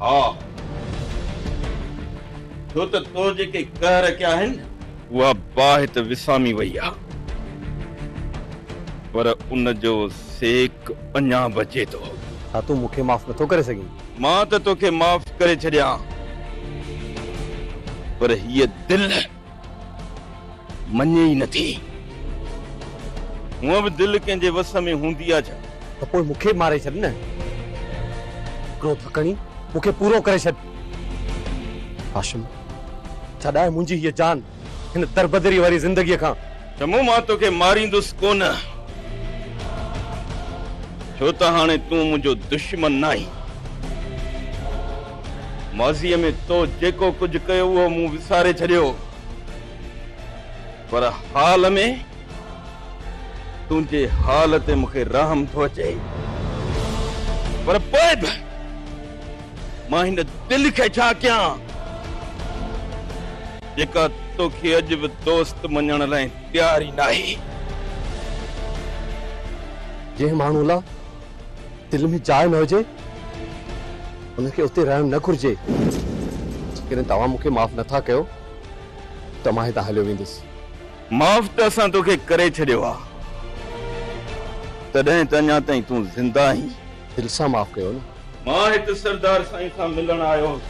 ها، ڇو ته تو جيڪي ڪهه رکيا آهن، اها باهه ته وسامي وئي آ، پر ان جو سيڪ اڃا بچي ٿو. ڇا تون مون کي معاف نٿو ڪري سگهين؟ مان ته توکي معاف ڪري ڇڏيان، پر هيء دل. مڃي ئي نه ٿي. هونء به دل ڪنهن جي وس ۾ هوندي آ ڇا؟ ته پوء مون کي به ماري ڇڏ نه. هڪڙو ٿڪڻي مون کي پورو ڪري ڇڏ. هاشم! ڇڏاء منهنجي هيء جان هن دربدريء واريء زندگيء کان. ته مون مان توکي ماريندس ڪونه، ڇو ته هاڻي تون منهنجو دشمن ناهين. ماضيء ۾ تو جيڪو ڪجهه ڪيو اهو مون وساري ڇڏيو، پر حال ۾ تنهنجي حال تي مون کي رحم ٿو اچي. پر پوء به مان هن دل کي ڇا ڪيان؟ جيڪا توکي اڄ به دوست مڃڻ لاء تيار ئي ناهي. جنهن ماڻهوء لا دل ۾ جاء نه هجي، ان کي اتي رهڻ نه گهرجي. جيڪڏهن توهان مون کي معاف نه ٿا ڪيو ته مان هتان هليو ويندس. معاف ته اسان توکي ڪري ڇڏيو آ، تڏهن ته اڃا تائين تون زنده آهين. دل سان معاف ڪيو نه. مان هت سردار سائين سان ملڻ آيو هوس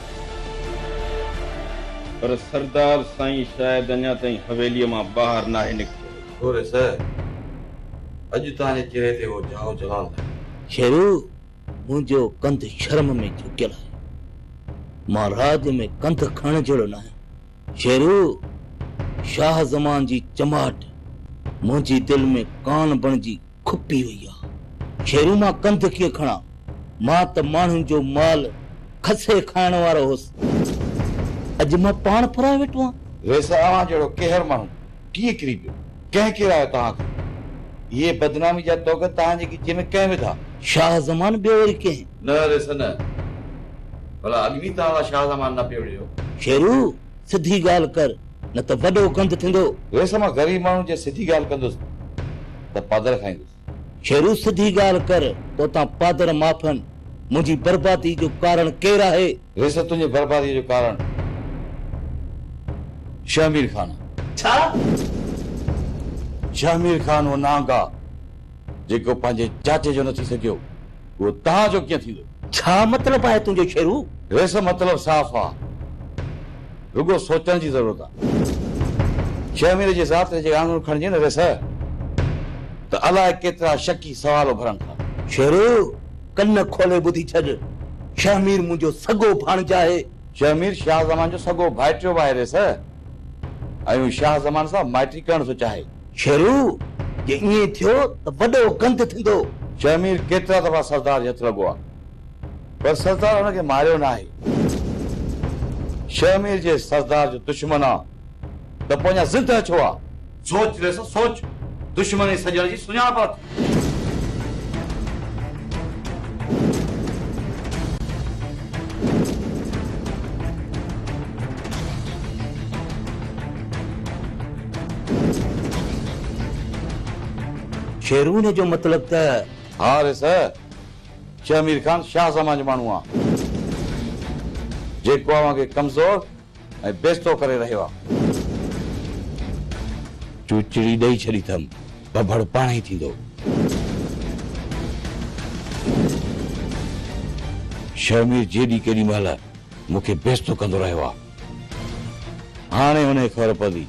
پر سردار سائين شايد اڃا تائين حويليء مان ٻاهر ناهي نڪتو هجي. ڇوري صاحب! اڄ تنهنجي چهري تي اهو جهاء جلال ناهي. شيرو! منهنجو ڪنڌ شرم ۾ جهڪيل آهي. مان راڄ ۾ ڪنڌ کڻڻ جهڙو نه آهيان. شيرو! شاهه زمان جي چماٽ منهنجي دل ۾ ڪان بڻجي کپي وئي آ. شيرون مان ڪنڌ ڪيئن کڻان. مان ته ماڻهن جو مال کسي کائڻ وارو هوس. اڄ مان پاڻ پرائي ويٺو آهيان. ويسي اوهان جهڙو ڪيهر ماڻهو ڪيئن ڪري پيو؟ ڪنهن ڪيرايو توهان کي؟ اهي بدنامي جا توڳ توهان جي ڳچيء ۾ ڪنهن وڌا؟ شاهه زمان ٻيو وري ڪنهن؟ نه ويسي نه. ڀلا اڳ ۾ توهان لا شاهه زمان نه پيو وڙهيو؟ شيرو! سڌي ڳالهه ڪر نه ته وڏو گند ٿيندو. ويس مان غريب ماڻهو جي سڌي ڳالهه ڪندس ته پادر کائيندس. شيرو سڌي ڳالهه ڪر توتان پادر معافن. منهنجي بربادي جو ڪارڻ ڪير آهي؟ ويس تنهنجي بربادي جو ڪارڻ شهمير خان آهي. ڇا؟ شهمير خان اهو نهانگ آهي جيڪو پنهنجي چاچي جو نه ٿي سگهيو. اهو توهان جو ڪيئن ٿيندو؟ ڇا مطلب آهي تنهنجو شيرو؟ ريس مطلب صاف آ. رڳو سوچڻ جي ضرورت آ. ڇهه مهيني جي ذات جي آڱر کڻجي نه ريس ته الاء ڪيترا شڪي سوال اڀرن ٿا. شيرو! ڪن کولي ٻڌي ڇڏ. شهمير منهنجو سڳو ڀاڻج آهي. شهمير شاهه زمان جو سڳو ڀائٽيو به آهي ريس. ۽ هو شاهه زمان سان مائٽي ڪرڻ ٿو چاهي. شيرو، جي ائين ٿيو ته وڏو گند ٿيندو. شهمير ڪيترا دفعا سردار جي هٿ لڳو آهي، پر سردار هن کي ماريو ناهي. شهمير جي سردار جو دشمن آ ته پوء اڃا زندهه ڇو آ؟ سوچ ويس، سوچ، دشمن ۽ سڄڻ جي سڃاڻپ اٿئي. شيرونه جو مطلب ته. ها ريس! شيخ مير خان شاهه زمان جو ماڻهو آ، جيڪو اوهان کي ڪمزور ۽ بيستو ڪري رهيو آ. چوچڙي ڏئي ڇڏي اٿم، ڀڀڙ پاڻهي ٿيندو. شيخ مير جيڏي ڪيڏي مهل مون کي بيستو ڪندو رهيو آ. هاڻي انهي خبر پوي.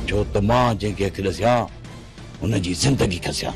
ڇو ته مان جنهن کي اک ڏسيان، هن جي زندگي کسيان.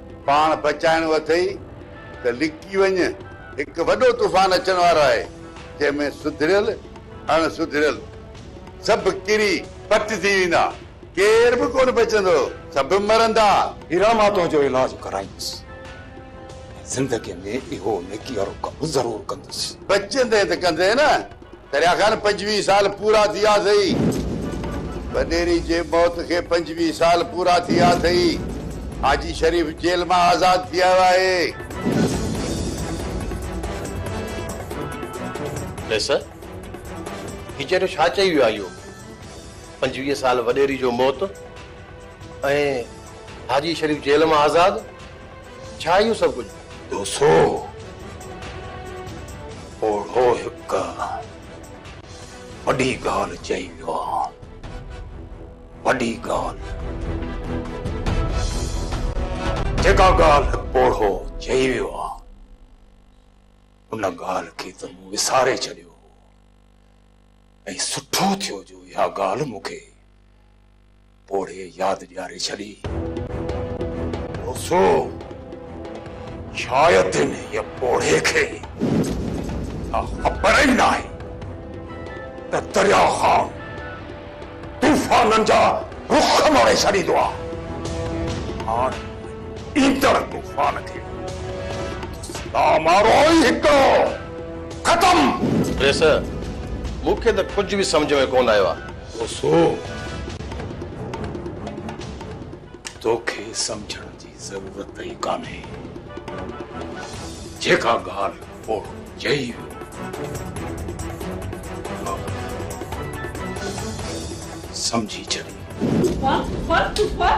پاڻ بچائڻو اٿئي ته لڪي وڃ، هڪ وڏو طوفان اچڻ وارو آهي، جنهن ۾ سڌريل، اڻ سڌريل سڀ ڪري پٽ ٿي ويندا، ڪير به ڪونه بچندو، سڀ مرندا. هيرا مان تنهنجو علاج ڪرائيندس ۽ زندگيء ۾ اهو نيڪي وارو ڪم ضرور ڪندس. بچندين ته ڪندين نه. دريا خان پنجويهه سال پورا ٿي ويا اٿئي. ڀنيري جي موت کي پنجويهه سال پورا ٿي ويا اٿئي. حاجي شريف جيل مان آزاد ٿي آيو آهي. ليسه، هي چيٽو ڇا چئي ويو آهي اهو؟ پنجويهه سال وڏيري جو موت ۽ حاجي شريف جيل مان آزاد؟ ڇا اهو سڀ ڪجهه؟ ڏوسو پوڙهو هڪ وڏي ڳالهه چئي ويو آهي. وڏي ڳالهه. جيڪا ڳالهه پوڙهو چئي ويو آهي، ان ڳالهه کي ته مون وساري ڇڏيو هو ۽ سٺو ٿيو جو اها ڳالهه مون کي پوڙهي ياد ڏياري ڇڏي. روسو! شايد هيء پوڙهي کي اها خبر ئي ناهي ته درياء خان طوفانن جا رخ موڙي ڇڏيندو آهي. هاڻ ايندڙ طوفان کي سندس لامارو ئي هڪڙو. ختم! پريس، مون کي ته ڪجهه به سمجهه ۾ ڪونه آيو آهي. اوسو توکي سمجهڻ جي ضرورت ئي ڪانهي جيڪا ڳالهه پوڙهو چئي ويو سمجهي ڇڏي. طوفان طوفان طوفان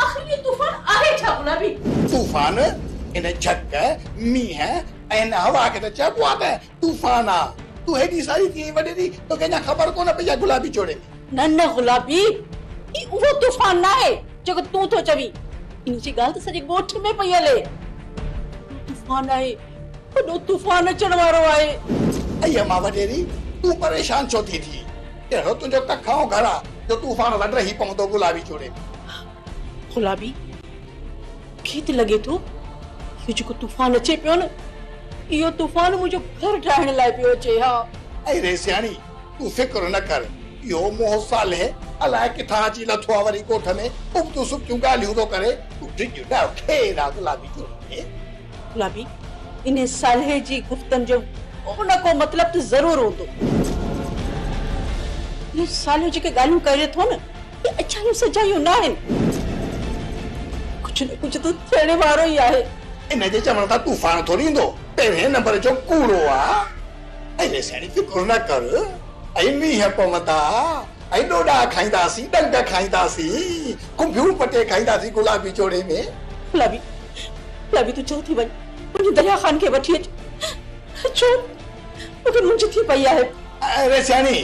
آخر اهو طوفان آهي ڇا گلابي. طوفان ان جهڪ مينهن ۽ ان هوا کي ته چئبو آهي ته طوفان آ تون هيڏي ساري ٿي ۽ وڏيري توکي اڃا خبر ڪونه پئي آ گلابي چوڙي ۾. نه نه گلابي هي اهو طوفان ناهي جيڪو تون ٿو چوين ان جي ڳالهه ته سڄي ڳوٺ ۾ پئي هلي وڏو طوفان آهي وڏو طوفان اچڻ وارو آهي. اي اما وڏيري تون پريشان ڇو ٿي ٿئين ڪهڙو تنهنجو ڪک ۽ گهر آ جو طوفان وڍرهي پوندو گلابي چوڙي ۾. گلابي کي ته لڳي ٿو اهو جيڪو طوفان اچي پيو نه اهو طوفان منهنجو گهر ڊاهڻ لاء پيو اچي ها. اي ريسياڻي تون فڪر نه ڪر اهو منهن صالح الاء ڪٿان اچي لٿو آ وري ڳوٺ ۾ ابتون سبتون ڳالهيون ٿو ڪري تون ڊڄ نه خير آ گلابي جوڻيجي. گلابي انهي صالح جي گفتن جو ڪو نه ڪو مطلب ته ضرور هوندو. اهو صالح جيڪي ڳالهيون ڪري ٿو نه اهي اچايون سجايون ناهن، ڪجهه نه ڪجهه ته ٿيڻ وارو ئي آهي. ان جي چوڻ تان طوفان ٿوري ايندو، پهرين نمبر جو ڪوڙو آ. اڙي سياڻي فڪر نه ڪر، اهي مينهن پوندا، اهي ڏوڏا کائينداسين، ڏنگ کائينداسين، کنڀيون پٽي کائينداسين گلابي جوڙي ۾. گلابي، گلابي تون چل ٿي وڃ، وڃي دريا خان کي وٺي اچ، ڇو مون کي مونجهه ٿي پئي آهي. اڙي سياڻي!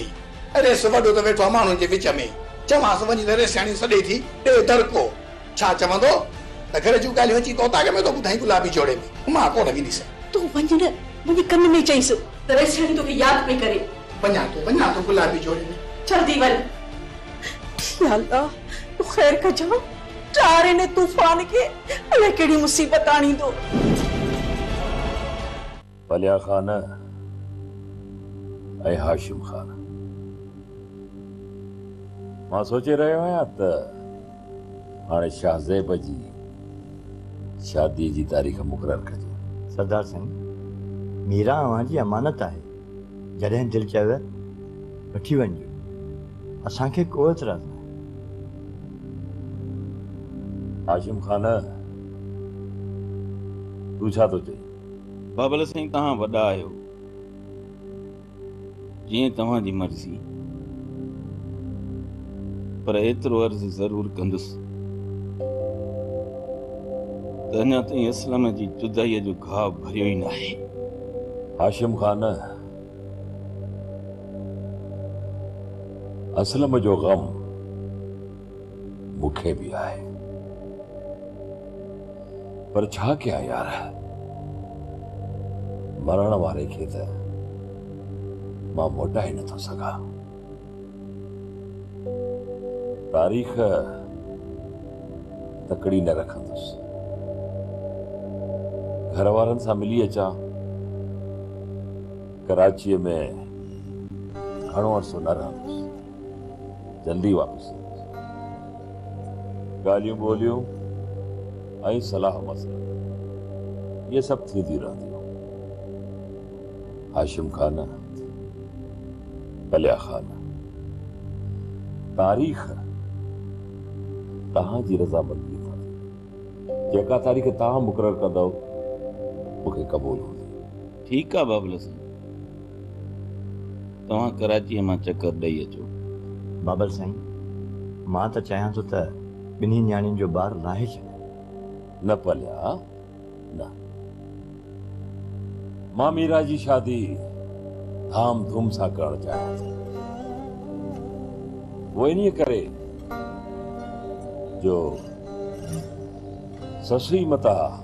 ريس وڏو ته ويٺو آ ماڻهن جي وچ ۾. چوانس وڃي ته ريسياڻي سڏي ٿي ڏي دڙڪو. ڇا چوندو ته گهر جون ڳالهيون اچي ڪوتاڪ ۾ ٿو ٻڌائين گلابي جوڙي ۾. هما ڪونه وينديسين. تون وڃ نه وڃي ڪن ۾ چئيس ته ريسياڻي توکي ياد پئي ڪري. وڃان ٿو وڃان ٿو گلابي جوڙي ۾. جلدي وڃ. يا الله تون خير ڪجان. ٽار هن طوفان کي الائي ڪهڙي مصيبت آڻيندو. پليا خان ۽ هاشم خان. مان سوچي رهيو آهيان ته هاڻي شاهه زيب جي شاديء جي تاريخ مقرر ڪجي. سردار سائين، ميرا اوهان جي امانت آهي، جڏهن دل چيو وٺي وڃجو، اسان کي ڪو اعتراض ناهي. هاشم خان، تون ڇا ٿو چئين؟ بابل سائين توهان وڏا آهيو جيئن توهان جي مرضي پر ايترو عرض ضرور ڪندس ته اڃا تائين اسلم جي جدائي جو گهاء ڀريو ئي ناهي. هاشم خان اسلم جو غم. مون کي به آهي پر ڇا ڪيان يار مرڻ واري کي ته مان موٽائي نٿو سگهان تاريخ تڪڙي نه رکندس گهر وارن سان ملي اچان ڪراچيء ۾ گهڻو عرصو نه رهندس جلدي واپس ايندس. ڳالهيون ٻولهيون ۽ صلاح مصلحت اهي سڀ ٿينديون رهنديون. هاشم خان، ڪليا خان، تاريخ توهان جي رضامنديء سان ٿيندي. جيڪا تاريخ توهان مقرر ڪندؤ، مون کي قبول هوندي. ٺيڪ آ بابل سان. توهان ڪراچيء مان چڪر ڏئي اچو. بابل سائين، مان ته چاهيان ٿو ته ٻنهي نياڻين جو بار لاهي ڇڏيان. نه پليا، نه. مان ميرا جي شادي ڌام ڌوم سان ڪرڻ چاهيان ٿي. اهو انهيء ڪري جو سسئي متان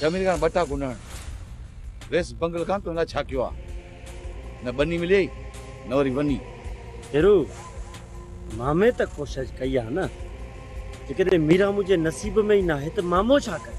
جميل کان ٻٽا گنڊڻ ويس بنگل کان تنهن لاء ڇا ڪيو آ نه ٻني مليئي نه وري وني. هيرو، مامي ته ڪوشش ڪئي آ نه جيڪڏهن ميران منهنجي نصيب ۾ ئي ناهي ته مامو ڇا ڪري.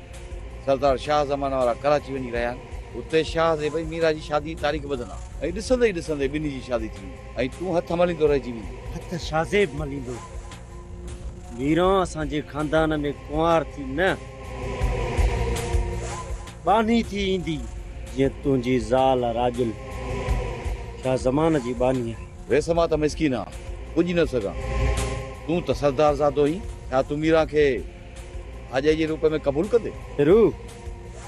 سردار شاهه زمانه وارا ڪراچي وڃي رهيا آهن. اتي شاهه زيب ۽ ميرا جي شادي جي تاريخ ٻڌندا ۽ ڏسندي ئي ڏسندي ٻنهي جي شادي ٿي ويندي ۽ تون هٿ مليندو رهجي ويندين. هٿ شاهه زيب مليندو، ميرا اسان جي خاندان ۾ ڪنوار ٿي نه، ٻانهي ٿي ايندي، جيئن تنهنجي زال راڄل شاهه زمانه جي ٻانهي آهي. ويس مان ته مسڪين آهيان، پڄي نه سگهان. تون ته سردار زادو آهين، ڇا تون ميرا کي. آجائي جي روپ ۾ قبول ڪندي. پھرو،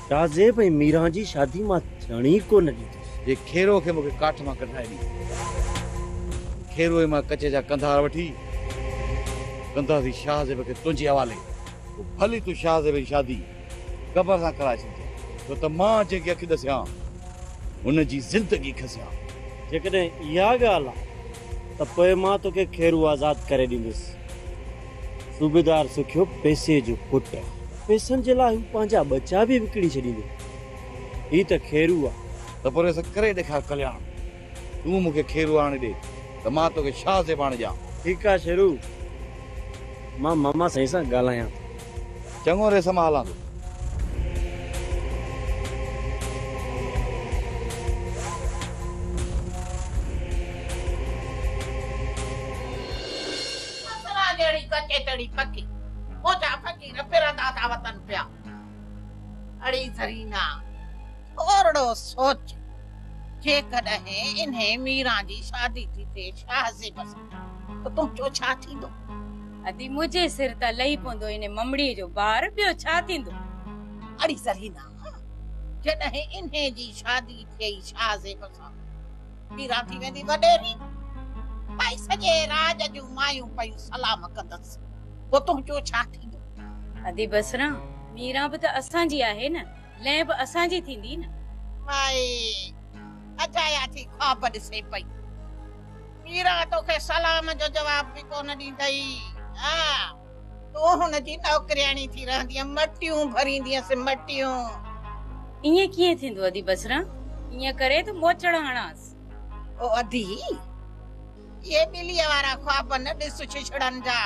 ڪاذب ۽ ميران جي شادي مان ٿيڻ ئي ڪو نه ڏيندس. جي کيرو کي مون کي ڪاٺ مان ڪڍرائي ڏي. کيرو ۽ مان ڪچي جا ڪنڌار وٺي ڪنداسين شاھ زيب کي تنھنجي حوالي. پوء ڀلي تون شاھ زيب جي شادي گبر سان ڪرائي ڇڏجانء، ڇو ته مان جنھن کي اک ڏسيان، ھن جي زندگي کسيان. جيڪڏھن اھا ڳالھ آ ته پوء مان توکي کيرو آزاد ڪري ڏيندس. صوبيدار سکيو پيسي جو پٽ، پيسن جي لاء هو پنهنجا ٻچا به وڪڻي ڇڏيندو. هي ته کيرو آ. ته پورهيت سان ڪري ڏيکار ڪلياڻ. تون مون کي کيرو آڻي ڏي ته مان توکي شاهه زيب آڻي ڏيان. ٺيڪ آ شيرو، مان ماما سائين سان ڳالهايان ٿو. چڱو ريس مان هلان ٿو. سسران جهڙي ڪچيتڙي ڪڪي موچا فقير ڦرندا ٿا وتن پيا. اڙي زرينا، ٿورڙو سوچ، جيڪڏهن انهي ميران جي شادي ٿي ٿئي شاهه زيب سان ته تنهنجو ڇا ٿيندو؟ ادي منهنجي سر تان لهي پوندو انهي ممڙيء جو بار، ٻيو ڇا ٿيندو؟ اڙي زرينا، جڏهن انهي جي شادي ٿئي شاهه زيب سان پيران ٿي ويندي وڏيري، ٻئي سڄي راڄ جون مايون پيون سلام ڪندس، پوء تنهنجو ڇا ٿيندو؟ ادي بس ران، ميران به ته اسان جي آهي نه، لئه به اسان جي ٿيندي نه. مائي اجايا ٿي خواب ڏسي پئي. ميران توکي سلام جو جواب به ڪونه ڏيندئي. آ! تون هن جي نوڪرياڻي ٿي رهندينء، مٽيون ڀريندينس، مٽيون. ائين ڪيئن ٿيندو ادي بصره؟ ائين ڪري ته موچڙ هڻانس. او ادي! اهي ٻليء وارا خواب نه ڏس ڇڇڙن جا.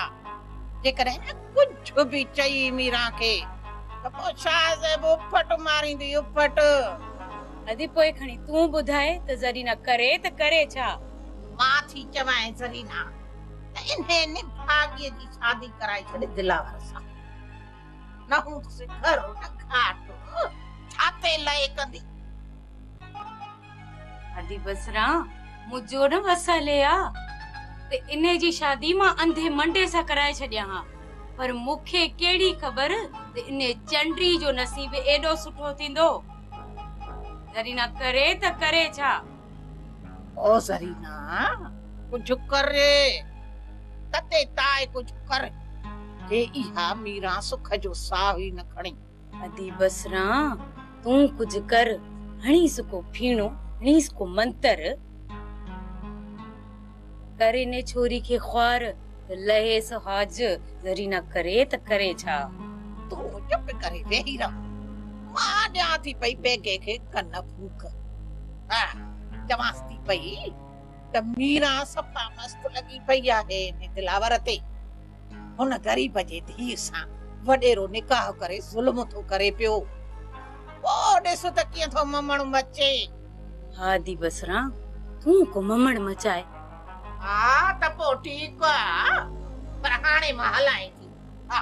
جيڪڏهن ۾ ڪجهه به چئي ميران کي ته پوء شاهه زيب اڦٽ ماريندي، اڦٽ. ادي پوء کڻي تون ٻڌاء ته زرينه ڪري ته ڪري ڇا؟ مان ٿي چوانء زرينه! ته انهيء نڀاڳيء جي شادي ڪرائي ڇڏ دلاور سان. نه هو سگهر، نه گهاٽ، ڇاتي لئي ڪندي. ادي بسران، مون جو نه وسهلي آ، ته انهيء جي شادي مان انڌي منڊي سان ڪرائي ڇڏيان ها، پر مون کي ڪهڙي خبر ته انهيء چنڊي جو نصيب ايڏو سٺو ٿيندو. زرينا ڪري ته ڪري ڇا؟ او زرينا ڪجهه ڪر ري تتي تاء ڪجهه ڪر ري اها ميران سک جو ساهه ئي نه کڻي. ادي بس ران تون ڪجهه ڪر هڻيس ڪو ڦيڻو هڻيس ڪو منتر. ڪري ني ڇوري کي خوار، لهي سهاج زرينا ڪري ته ڪري ڇا. تون چپ ڪري ويهي رهه، مان ڏيان ٿي پئي بيگهي کي ڪن ڦوڪ. ها، چوانس ٿي پئي ته ميران صفا مست لڳي پئي آهي انهي دلاور تي. هن غريب جي ڌيء سان وڏيرو نڪاح ڪري ظلم ٿو ڪري پيو. پوء ڏس ته ڪيئن ٿو ممڻ مچي. ها ادي بصرا تون ڪو ممڻ مچاء. ها ته پوء ٺيڪ آ پر هاڻي مان هلائين ٿي. ها.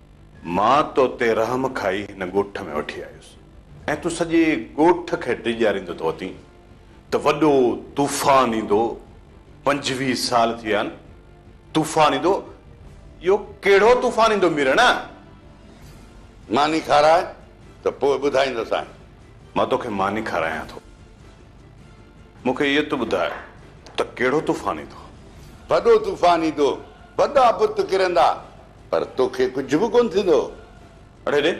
مان تو تي رحم کائي هن ڳوٺ ۾ وٺي آيس ۽ تون سڄي ڳوٺ کي ڊيڄاريندو ٿو اٿين ته وڏو طوفان ايندو، پنجويهه سال ٿي ويا آهن طوفان ايندو، اهو ڪهڙو طوفان ايندو ميرڻ؟ ماني کاراء ته پوء ٻڌائيندوسانء. مان توکي ماني کارايان ٿو، مون کي اهو ته ٻڌاء ته ڪهڙو طوفان ايندو؟ وڏو طوفان ايندو، وڏا بت ڪرندا، پر توکي ڪجهه به ڪونه ٿيندو. اڙي ڙي!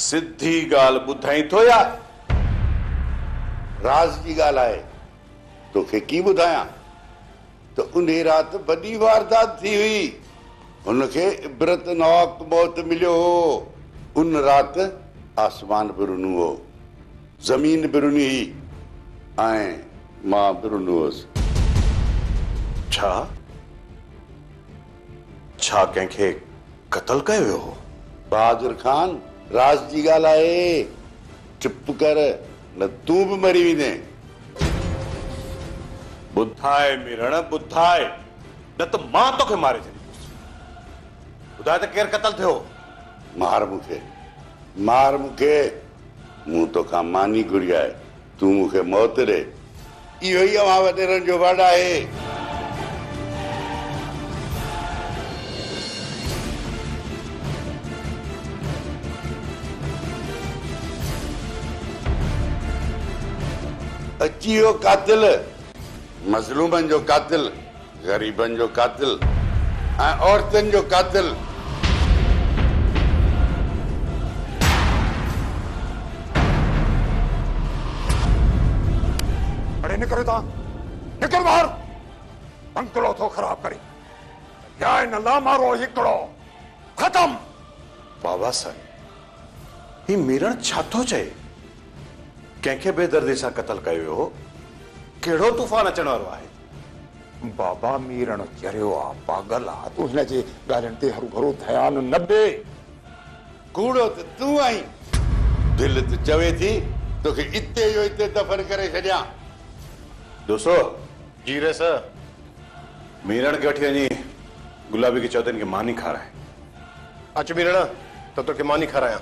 سڌي ڳالهه ٻڌائين ٿو يا راز جي ڳالهه آهي؟ توکي ڪي ٻڌايان ته انهي رات وڏي واردات ٿي هئي. هن کي عبرتناڪ موت مليو هو. ان رات آسمان به رنو هو. زمين به رني هئي ۽ مان به رنو هوس. ڇا؟ ڇا ڪنهن کي قتل ڪيو ويو هو؟ بهادر خان، راز جي ڳالهه آهي، چپ ڪر نه تون به مري ويندين. ٻڌاء ميرڻ، ٻڌاء، نه ته مان توکي ماري ڇڏيندس. ٻڌاء ته ڪير قتل ٿيو هو؟ مار مون کي، مار مون کي. مون توکان ماني گهري آهي، تون مون کي موت ڏي. اهو ئي اوهان وڏيرن جو وڙ آهي. اچي ويو قاتل، مظلومن جو قاتل، غريبن جو قاتل ۽ عورتن جو قاتل. اڙي نڪر هتان نڪر ٻاهر بنگلو ٿو خراب ڪري يا ان لامارو هڪڙو ختم. بابا سائين هي ميرڻ ڇا ٿو چئي ڪنهن کي بيدردي سان قتل ڪيو ويو هو ڪهڙو طوفان اچڻ وارو آهي. بابا ميرڻ چريو آ، پاڳل آ، تون هن جي ڳالهين تي هروڀرو ڌيان نه ڏي. ڪوڙو ته تون آهين، دل ته چوي ٿي توکي اتي جو اتي دفن ڪري ڇڏيان. دوسو! جي رئيس! ميرڻ کي وٺي وڃي گلابي کي چئو ته هن کي ماني کاراء. اچ ميرڻ ته توکي ماني کارايان.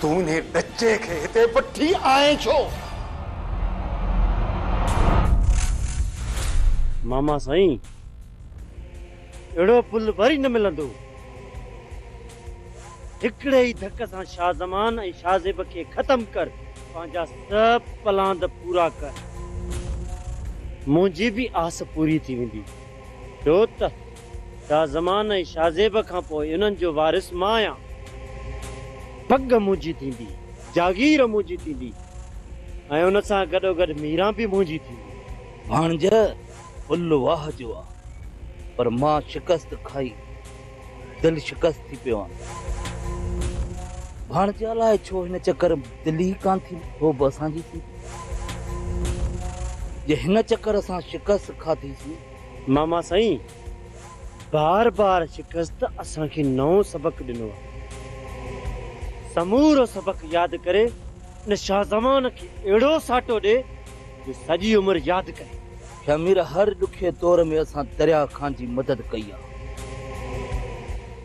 تون انهي ٻچي کي هتي وٺي آئين ڇو؟ ماما سائين اهڙو پل وري نه ملندو. هڪڙي ئي ڌڪ سان شاهه زمان ۽ شاهه زيب کي ختم ڪر. پنهنجا سڀ پلاند پورا ڪر. منهنجي به آس پوري ٿي ويندي. ڇو ته. شاهه زمان ۽ شاهه زيب کان پوء انهن جو وارث مان آهيان. پڳ منهنجي ٿيندي، جاگير منهنجي ٿيندي ۽ ان سان گڏوگڏ ميران به منهنجي ٿيندي. ڀاڻج ڦل واهه جو آ، پر مان شڪست کائي دل شڪست ٿي پيو آهيان. ڀاڻج الاء ڇو هن چڪر ۾ دل ئي ڪانه ٿيندي، هوء به اسان جي ٿيندي. جي هن چڪر سان شڪست کاڌيسين ماما سائين بار بار شڪست اسان کي نئون سبق ڏنو آهي. سمورو سبق ياد ڪري ان شاهه زمان کي اهڙو ساٽو ڏي جو سڄي عمر ياد ڪري. شاهه مير هر ڏکي دور ۾ اسان دريا خان جي مدد ڪئي آهي.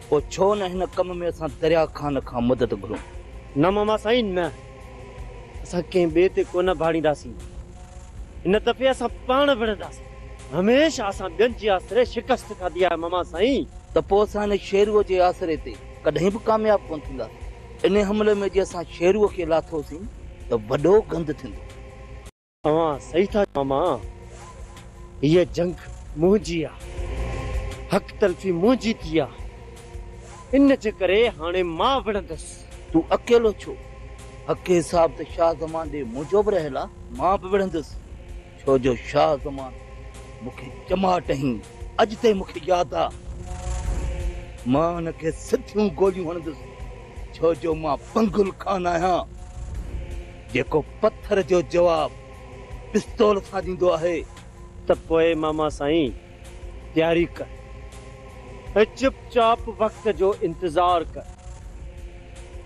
پوء ڇو نه هن ڪم ۾ اسان دريا خان کان مدد گهرون. نه ماما سائين نه. اسان ڪنهن ٻئي تي ڪونه ڀاڙينداسين. هن دفعي اسان پاڻ وڙهنداسين. هميشه اسان ٻين جي آسري شڪست کاڌي آهي ماما سائين. ته پوء اسان هن شيروء جي آسري تي ڪڏهن به ڪامياب ڪونه ٿينداسين. انهي حملي ۾ جي اسان شيروء کي لاٿوسين ته وڏو گند ٿيندو. اوهان صحيح ٿا چئو ماما. هيء جنگ منهنجي آهي. حق تلفي منهنجي ٿي آهي. ان جي ڪري هاڻي مان وڙهندس. تون اڪيلو ڇو؟ حقي صاحب ته شاهه زمان ڏي منهنجو به رهيل آ، مان به وڙهندس، ڇو جو شاهه زمان مون کي چماٽ هين، اڄ تائين مون کي ياد آ. مان هن کي سڌيون گوليون هڻندس، ڇو جو مان پنگل ڪانه آهيان، جيڪو پٿر جو جواب پستول سان ڏيندو آهي. ته پوء ماما سائين! تياري ڪر ۽ چپ چاپ وقت جو انتظار ڪر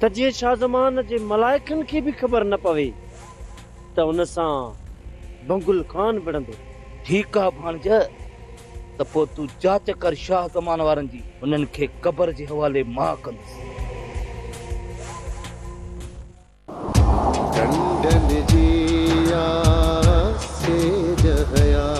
ته جيئن شاهه زمان جي ملائڪن کي به خبر نه پوي ته ان سان بنگل ڪانه وڙهندو. ٺيڪ آ ڀاڻج، ته پوء تون جاچ ڪر شاهه زمان وارن جي، انهن کي قبر جي حوالي مان ڪندس. ڍنڍ ۾ جيئا سيج هيا.